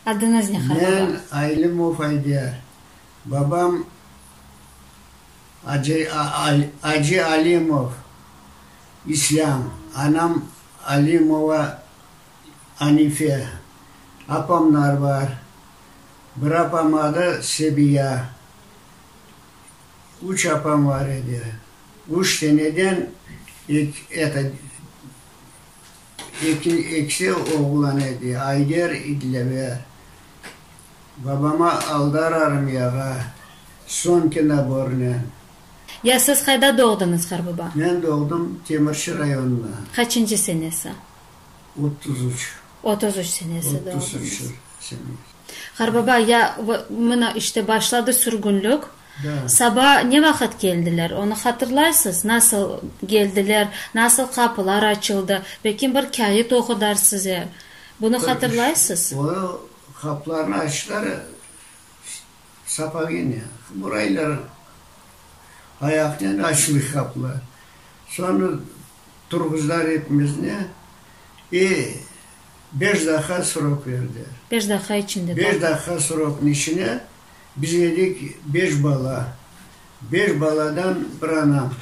Adıñız ne, han baba? Men Aylimov Ayder. Babam Acı Acı Alimov İslâm, anam Alimova Anife. Apamlar bar. Bir apam adı Sebiya. Üç apam var edi. Üç seneden eki ekisi oğlan edi, Ayder, İdleve. Babama Aldar armiyağa, soñki nabornen. Ya siz qayda doğdıñız, Harbaba? Men doğdım Temirçi rayonında. Qaçıncı senesi? Otuz üç. Otuz üç senesi doğdunız. Otuz üç senesi. Harbaba, ya, mına işte başladı sürgünlik. Saba ne vaqıt keldiler, onı hatırlaysız? Nasıl geldiler, nasıl qapılar açıldı? Belki bir kâyıt oqudarız size. Bunı hatırlaysız? O, qapılarnı açtılar, sapaginen, buraylar ayaqnen açıldı qapılar. Soñra turğuzdılar epimizni, e, beş daqqa srok verdiler. Beş daqqa içinde. Beş daqqa sroknıñ içine Biz edik beş bala. Beş baladan bir ana.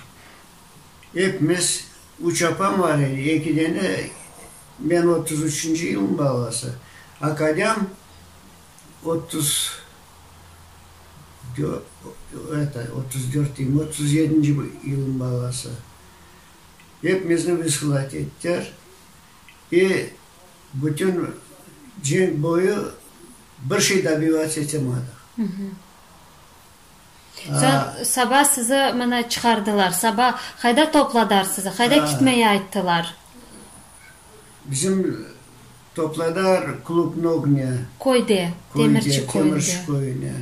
Epimiz üç apam bar edi, eki dene, men otuz üçünci yılnıñ balası, akadem otuz dört, otuz dört deyim, otuz yedinci yılnıñ balası. Epimizni vıslat ettiler. E bütün cenk boyu Bir şey da bilâc etemadıq. Soñ saba sizi mana çıqardılar. Saba qayda topladarr sizi? Qayda kitmeye ayttılar? Bizim topladarr Klub Nognya. Köyde, Temirçi köyünde. köyüne.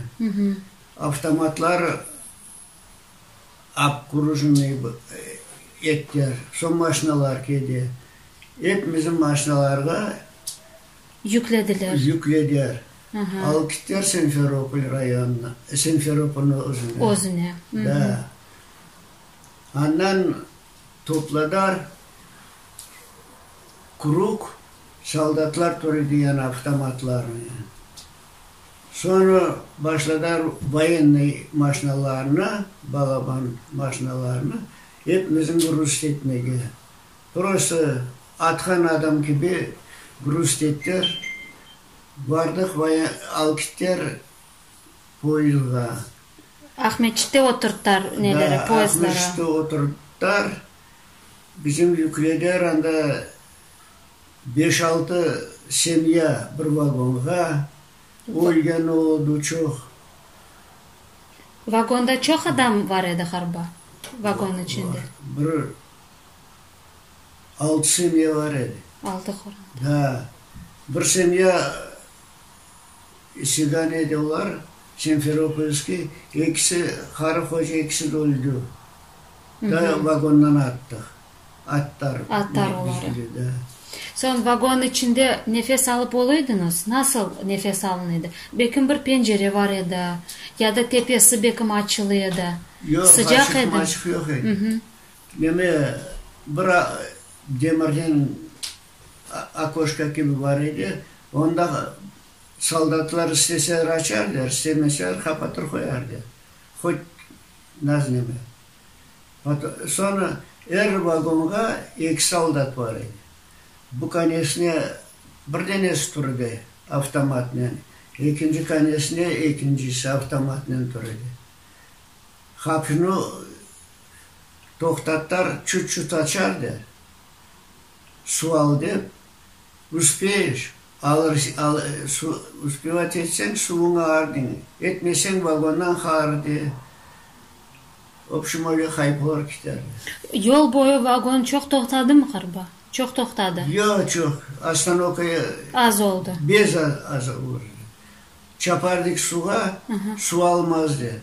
Avtomatlar abkurujniy ettiler. Soñ maşnalar kedi. Epimizin maşnalarğa yüklediler. Yüklediler. Aha. Alıp gittiler Simferopol rayonına, Simferopolnıñ özüne. Özüne. Da. Andan topladılar Krug, soldatlar türü diyen avtomatlarnı. Soñra başladılar voyennıy maşinalarnı, balaban maşinalarnı ep bizim rusketnıge Prosto atqan adam kibi grust ettir, bardıq Alkiter poyızdğa. Aqmescitte oturtar neleri, poyızdları. Da, Aqmescitte oturtar, bizim yükleder anda beş-altı semya bir vagonğa, ölgen oldı çoq. Vagonda çoq adam bar edi harba, vagon içinde? Bar, bir. Altı semya bar edi. Altı qoran. Da. Bir semya İsigan edi olar, Semferopolskiy. Ekisi qarı qoca, ekisi de öldü. Da vagondan attıq. Attar. Attar oları. Da. Soñ vagon içinde nefes alıp ol ediñiz? Nasıl nefes alın edi? Belkim bir pencere bar edi, ya da tepesi belkim açılı edi. Yoq, açıq maçıq yoq edi. Meme bir demirden okoşka kibi bar edi, onda soldatlar isteseler açardılar, istemeseler qapatır qoyardılar, hoç nazneme. Soñra er vagonğa eki soldat bar edi. Bu konesine bir denesi tur edi avtomatnen, ekinci konesine ekincisi avtomatnen tur edi. Hapnı Toqtatar çut-çut açar de, sual dep, üspeyiş, üspevat etseñ suvuñı ağır deñ, etmeseñ vagondan haaır de, obşim öyle qayıp olar kiterler. Yol boyu vagon çoq toqtadımı qırba? Çoq toqtadı. Yoq, çoq. Ostanovka Az oldı. bez az olur edi. Çapardık suğa, su almazdı.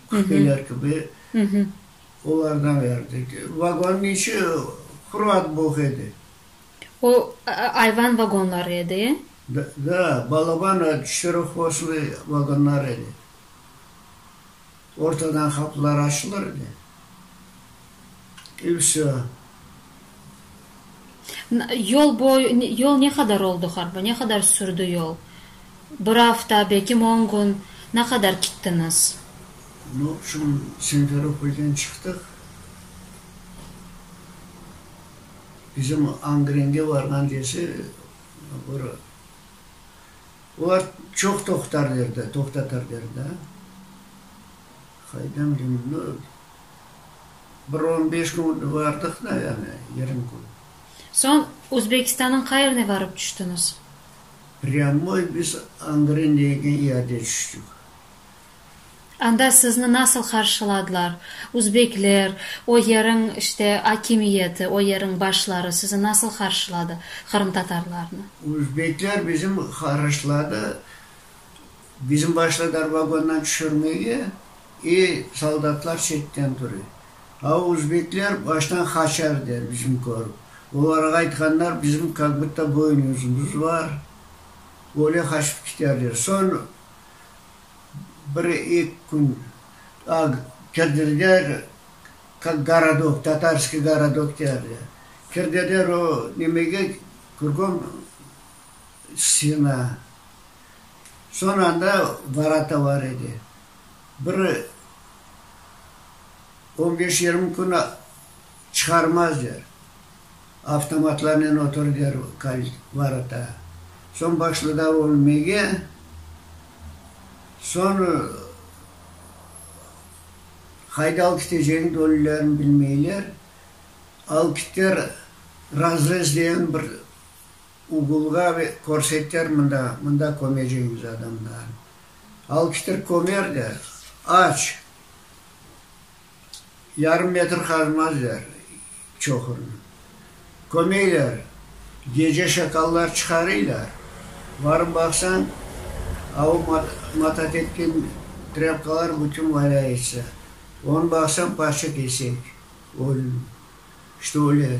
Küfteler kibi olarğa berdik. Vagonnıñ içi quruat boq edi. O, ayvan vagonları edi, e? Da, balaban çetirexvoslı vagonlar edi. Ortadan qapılar açılır edi. E, vsё. Yol boyu, yol ne qadar oldu harbi, ne qadar sürdi yol? Bir afta, bekim on kün, na qadar kittiñiz? N obşim, Simferopolden çıqtıq, bizim Angrenge barğan dese, bir, olar çoq toqtar derdi, toqtatar derdi, qaydam, dedim, n Bir on beş kün vardıq da, yani yarım kün. Soñ Özbekistannıñ qayerine varıp tüştiñiz? Prâmoy biz Angren degen yerde tüştik. Anda sizni nasıl qarşıladılar? Özbekler, o yeriñ, işte, akimiyeti, o yeriñ başları sizi nasıl qarşıladı, qırımtatarlarnı? Özbekler bizim qarşıladı. Bizim başladılar vagondan tüşürmege, e, soldatlar çetten turı. A uzbekler baştan qaçar der bizim körip. Olarğa aytqanlar bizim kak butta boyun yüzümüz bar, öyle qaçıp kiterler. Soñ bir ek kün a kirdirler kak gorodok, Tatarskiy gorodok derler. Kirdirler o nemege, kürgom stena. Soñ anda varata var edi. Bir on beş yirmi kün çıqarmaz der. Avtomatlarnen otur der varata. Soñ başladı ölmege. Soñ qayda alıp keteceğini de ölülerim bilmeyler. Alıp keter razrez degen bir Ugulğa ve körseter mında, mında kömeceñiz adamlarnı. Alkiştir kömer de, aç. Yarım metr qazmazlar çoqurnı. Kömeyler, gece şakallar çıqarıylar. Barıp baqsañ, avı matat etken trâpkalar bütün valâ etse. Onı baqsañ, parça-kesek, ölüm. Şto öyle.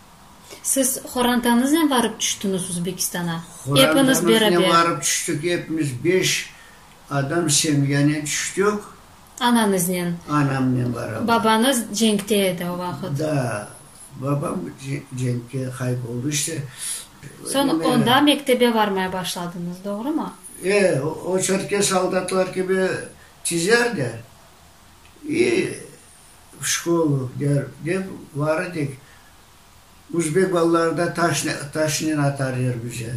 Siz qorantanıznen varıp tüştüñiz Uzbekistana? Epiniz beraber. Qorantamıznen varıp tüştük, epimiz beş adam semyanen tüştük. Ananıznen. Anamnen barabar. Babanız cenkte edi o vaqıt. Da, babam cenkte qayıp oldı işte. Soñ onda mektebe varmay başladıñız, doğrumı? E, o çörtke soldatlar kibi çizerdi. İ. V şkolu der, dep var edik. Uzbek balaları da taşnen, taşnen atar yer bize.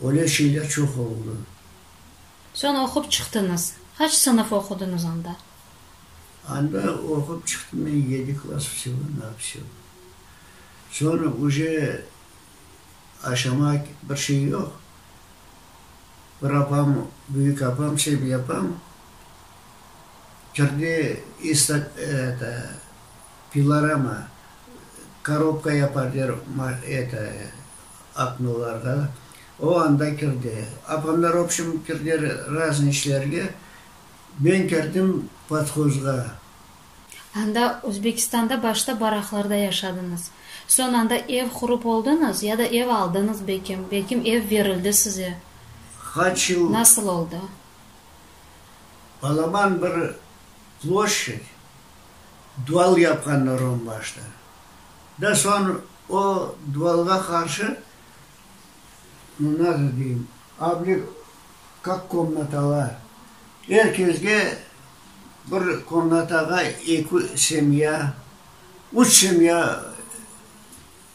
Öyle şeyler çoq oldı. Soñ oqup çıqtıñız. Qaç sınıf oqudıñız anda? Anda oqup çıqtım men yedi klass vsego na vsego. Soñ uje aşama bir şey yoq. Bir apam, büyük apam, Sevil apam, Kirdi iste, eto, pilorama, korobka yapar der, ma, eto, oknolarğa, o anda kirdi. Apamlar, obşim, kirdiler raznıy işlerge, men kirdim podhozğa. Anda, Özbekistanda, başta baraqlarda yaşadıñız. Soñ anda ev qurıp oldıñız ya da ev aldıñız, belkim, belkim ev berildi size. Qaç yıl. Nasıl oldı? Balaban bir ploşçet, duval yapqanlar onbaşta. Da soñ o duvalğa qarşı, no nazo deyim, abli kak komnatalar, er kesge bir komnatağa eki semya, üç semya,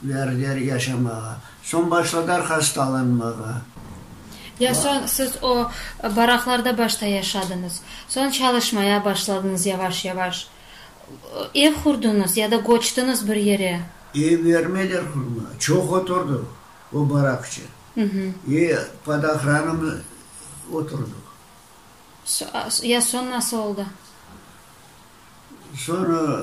Verdiler yaşamağa. Soñ başladılar hastalanmağa. Ya soñ siz o baraqlarda başta yaşadıñız, soñ çalışmaya başladıñız yavaş-yavaş. Ev qurdıñız ya da köçtiñiz bir yere? Ev bermediler qurmağa. Çoq oturdıq o baraqçe. E, pod ohranom oturdıq. Ya soñ nasıl oldı? Soñ,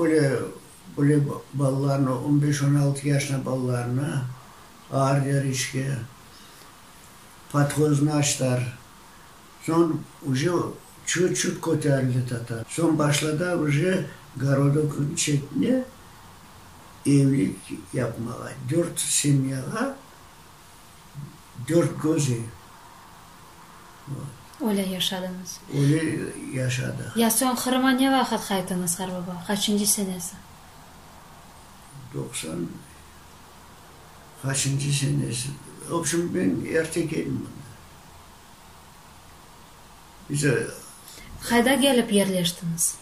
Öyle, öyle balalarnı, on beş, on altı yaşında balalarnı ağır derişke podhozını açtılar. Soñ uje çut-çut köterildi tatar. Soñ başladılar uje Gorodoknıñ çetine evlik yapmağa, dört semyağa. dört közi var. Öyle yaşadıñız. Öyle yaşadıq. Ya soñ Qırıma ne vaqıt qaytıñız, qarbaba? Qaçıncı senesi? Doqsan qaçıncı senesi. Obşim, men erte keldim anda. Bize. Qayda kelip yerleştiñiz?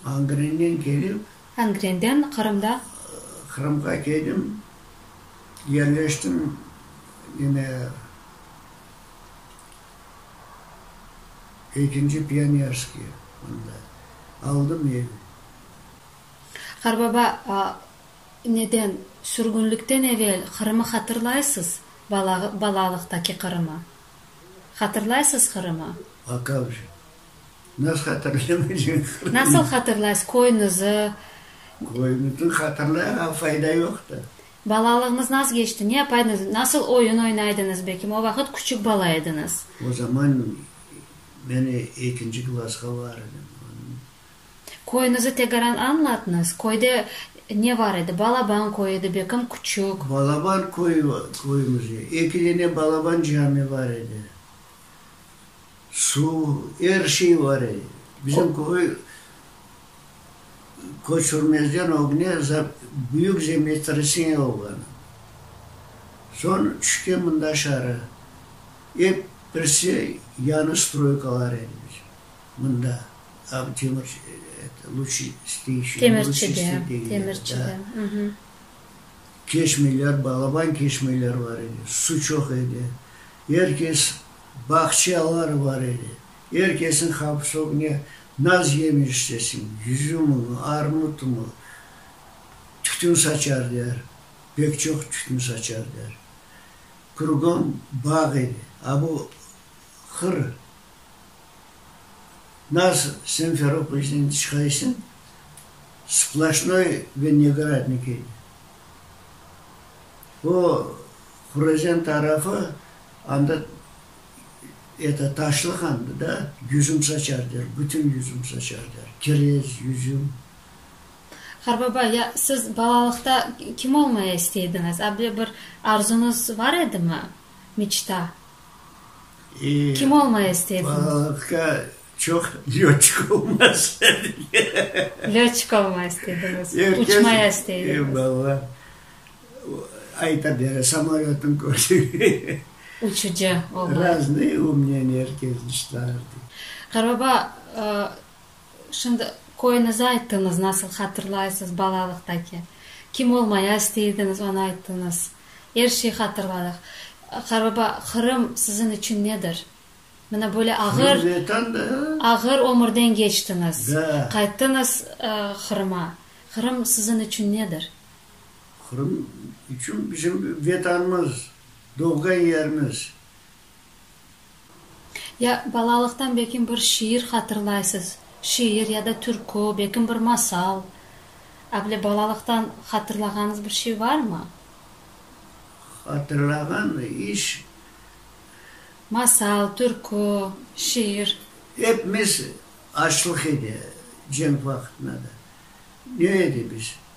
Angrennen kelip. Angrenden Qırımda. Qırımğa keldim, yerleştim, yine ekinci Pionerskiy mında aldım ev. Qarbaba, neden sürgünlikten evel Qırımı hatırlaysız, balalıqtaki Qırımı? Hatırlaysız Qırımı? Akavcı. Nasıl hatırlaymaycaq? Nasıl hatırlaysız köynizi? Köynizi hatırlayıq, amma fayda yoqtı. Balalığıñız nasıl keçti? Ne yapaydınız? Nasıl oyun oynaydınız belkim? O vaqıt küçük bala ediñiz. O zaman men ekinci klasqa bar edim. Köynizi tegaran añlatıñız. Köyde ne bar edi? Balaban köyü edi belkim, küçük. Balaban köyü, köyümizde eki dene Balaban cami bar edi. Suv, er şey var edi. Bizim köy köçürmezden ögne büyük zemetresseniya olğan. Soñ tüşken mında şarı. Ep birisi yañı stroykalar edi bizim mında. Keşmeler, balaban keşmeler var edi. Su çoq edi. Er kes Bağçalar bar edi. Er kesiñ havfsogine naz yemi istesin, yüzümimi, armutımı, tütün saçar der, pek çoq tütün saçar der. Krugom bağ edi. A bu hır naz Semferopoyzden çıqaysıñ, splaşnoy ve negradnik edi. O Hurazen tarafı anda eto taşlı handı da, yüzüm saçar der, bütün yüzüm saçar der, kirez, yüzüm. Qarbaba, ya siz balalıqta kim olmaya isteydiñiz? Able bir arzuñız bar edimi, meçta? Kim olmaya isteydiñiz? Balalıqta çoq lötçik olmaya isteydik. Lötçik olmaya isteydiñiz, uçmaya isteydiñiz. Evallah. Ayta bere, samolötniñ köşügi. Uçucı olmay. Raznıy u mnen er kez dışlardı. Qarababa, şimdi köyünizi ayttıñız, nasıl hatırlaysız balalıqtaki. Kim olmaya istey ediñiz, onı ayttıñız. Er şey hatırladıq. Qarababa, Qırım siziñ içün nedir? Mına böyle ağır, ağır ömürden keçtiñiz. Qayttıñız Qırıma. Qırım siziñ içün nedir? Qırım içün bizim Vetanımız, doğğan yerimiz. Ya balalıqtan bekim bir şiir hatırlaysız, şiir ya da türkü, bekim bir masal, avle balalıqtan hatırlağanız bir şey varmı? Hatırlağan iş. Masal, türkü, şiir. Epimiz açlıq edi, cenk vaqtında da. Ne edi biz?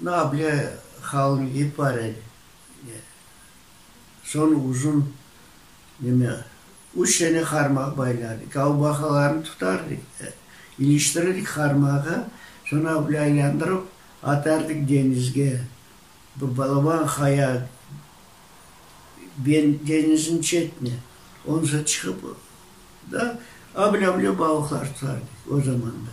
Na bile halni ipar et, ne. Soñ uzun, nime, üç tane qarmaq baylardık, avbaqalarnı tutardık, iliştirirdik qarmağa, soñ na bile aylandırıp atardık deñizge. Bir balaban qaya ben, deñizniñ çetine, ondan soñ çıqıp da, a bile, a bile balıqlar tutardık o zamanda.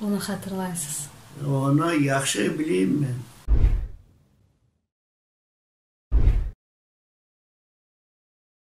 onı hatırlaysız? Onı yahşı bileyim men.